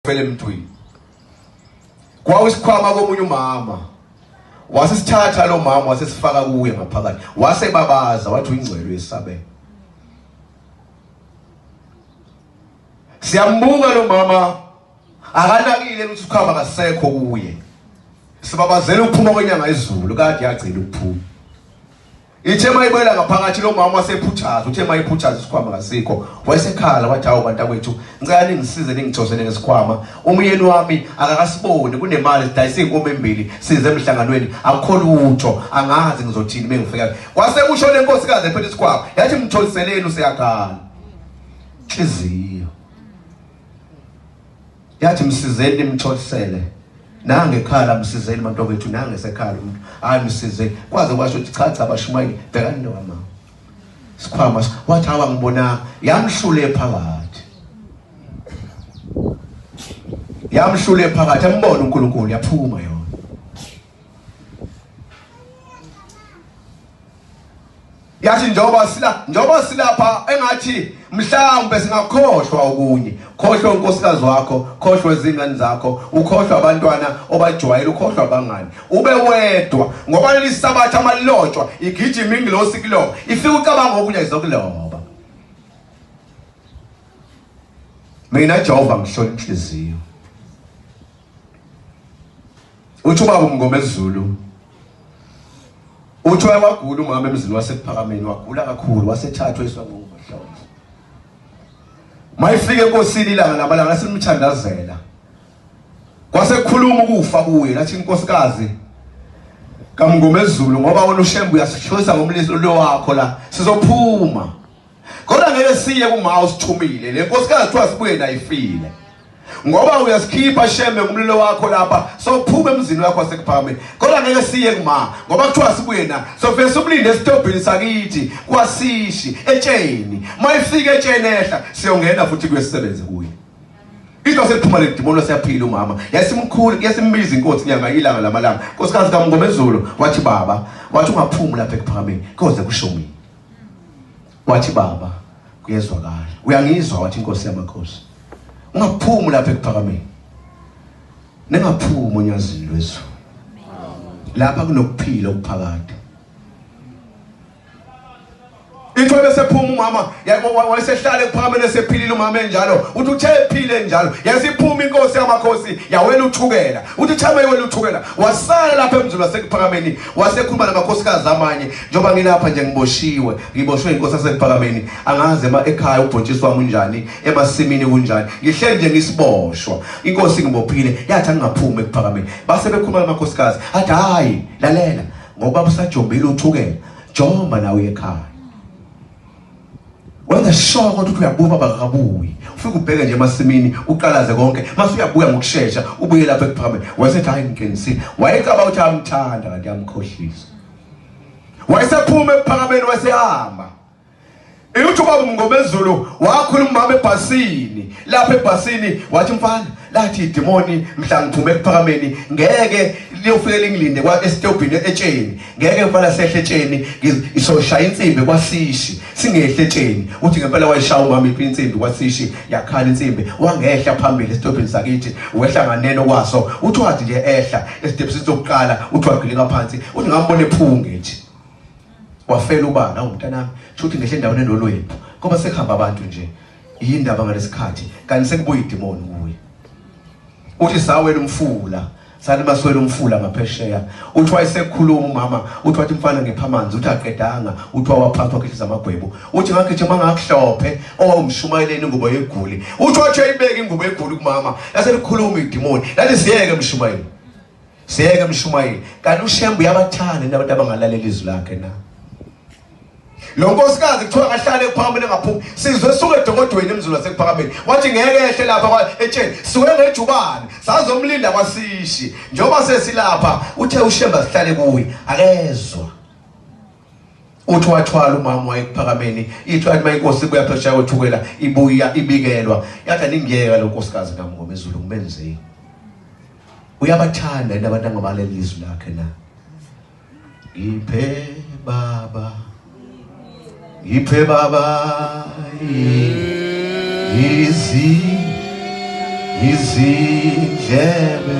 phela emntwini kwawusikhwama komunye umama wasisithatha lo mama wasesifaka kuye ngaphakathi wasebabaza wathi uyingcwele yesabe siyambuka lo mama akanakile ukuthi ukhamba kasekho kuye sibabazela ukuphuma kwenyanga izulu kade yagcina ukuphuma Ithe mayibuyela ngaphakathi lo mama wasephuthaza uthe mayiphuthaza isikhwama kasikho wayesekhala wathi hawu bantakwethu ngicela ningisize ningijosele ngesikhwama umyeni wami akakasiboni kunemali sidayisa inkomo embili size emhlanganweni akukho lutho angazi ngizothini bengifika kwase kusho lenkosikazi ephethe isikhwama yathi mtholiseleni useyakhala inhliziyo yathi msizeni nimtholisele nange ekhala msizeni bantu bethu nange sekhala umuntu hayi msizeni kwaze kwasho ukuthi cha cha bashumayile bhekani nowama sikhwama wathi hawa ngibona yamhlule phakathi yamhlule phakathi ambona uNkulunkulu yaphuma yona Yathi njengoba sila njengoba silapha engathi mhlawumbe singakhohlwa okunye. Khohlwa unkosikazi wakho, khohlwa izingane zakho, ukhohlwa abantwana obajwayele, ukhohlwa abangani. Ube wedwa ngoba leli sabatha amalotshwa igijima ingilosi kuloba. Ifika ucabanga okunye izokuloba. Mina Jehova ngihlola inhliziyo. Uthi ubaba uMngomezulu uthi wayewagula umama emzini wasekuphakameni wagula kakhulu wasethathwa iswangokuhlonza mayifike enkosini ilanga lamalanga simthandazela kwasekhuluma ukufa kuye lathi inkosikazi kamngomezulu ngoba wona ushembu uyasishoyisa ngomlilo wakho la sizophuma Kodwa ngeke siye kumaha usithumile. Le nkosikazi kuthiwa sibuye nayo ifile. Ngoba uyasikhipha shembe ngumlilo wakho lapha sophuma emzini wakho wasekuphakameni. Kodwa ngeke siye kumaha ngoba kuthiwa sibuye na. Sofike simlinde esitobhini sakithi kwasishi etsheni. Mayifika etsheni ehla siyongena futhi kuyesebenze kuye. Into seliphuma le demon siyaphila umama. Yasimkhulu yasimbiza inkosi nyanga ilanga lamalanga. Nkosikazi kaMngomezulu wathi baba wathi ungaphumi lapha ekuphakameni. Koze kusho mina. wathi baba kuyezwakala uyangizwa wathi inkosi yamakhosi ungaphumi lapha ekuphakameni ningaphumi onyazini lwezulu lapha kunokuphila okuphakade into ebesephuma umama wayesehlale kuphakamele sephilile umama enjalo uthi uthe ephile njalo yasiphuma inkosi yamakhosi yawela uthukela uthi thama yewela uthukela wasala lapha emzulu wasekuphakameni wasekhuluma namakhosikazi amanye njengoba ngilapha nje ngiboshiwe ngiboshwe inkosi yasekuphakameni angaze ma ekhaya ubhontshisi wami unjani emasimini kunjani ngihleli nje ngisiboshwa inkosi ngibophile yathi angingaphumi ekuphakameni base bekhuluma namakhosikazi athi hayi lalela ngoba usajombile uthukela jomba nawe ekhaya Wenza sure kodwa ukuthi uyabuka bakabuyi. Ufike ubheke nje emasimini uqalaze konke. Mase uyabuya ngokusheshsha ubuye lapha ekuphambili. Wayesethi hayi ngiqinisile. Wayecaba ukuthi amthanda kanti yamkhohlisa. Wayesephuma ephakameni wasehamba. Iluthi ubaba uMngomezulu wakhuluma umama ebhasini. Lapha ebhasini wathi mfana lathi idemoni mhla ngiphume ekuphakameni ngeke liyofike lingilinde kwa esitobhini etsheni ngeke ngempela sehle etsheni isoshaya insimbi kwasishi singehle etsheni uthi ngempela wayishaya umama iphi insimbi kwasishi yakhala insimbi wangehla phambili esitobhini sakithi wehla nganeno kwaso uthi wathi nje ehla esitebhini sokuqala uthi wagilika phansi uthi ngambona ephunge nje wafela ubana umntanami shuthi ngehle endaweni enolwembu ngoba sekuhamba abantu nje yini ndaba ngalesikhathi kanti sekubuye idemoni kuye uthi sawela umfula salimaswela umfula ngaphesheya uthi wayesekhuluma umama uthi wathi mfana ngipha amanzi uthi aqedanga uthi wawaphathwa khehliza amagwebu uthi ngakhethi uma ngakuhlophe owawumshumayeleni ingubo yeguli uthi wathi ayibeke ingubo yeguli kumama yase likhuluma idimoni laliziyeke mshumayeli Siyeke mshumayeli. Kanti uShembe uyabathanda abantu abangalaleli izwi lakhe na. Lo nkosikazi kuthiwa kahlale phambili ngaphuma. Sizwe suke edokodweni emzulu wasekuphakameni. Wathi ngeke ehle lapha kwa etsheni. Suke ngejubane. Sazomlinda kwasishi. Njengoba sesilapha uthe uShembe asihlale kuye. Akezwa. Uthi wathwala umama wayekuphakameni ithi athi mayinkosi ibuya phesha yothukela ibuya ibikelwa yathi aningiyeka lo nkosikazi kamngoma ezulu ngimenzeni uyabathanda yini abantu angabaleli izwi lakhe na ngiphe baba ngiphe baba izi izindlebe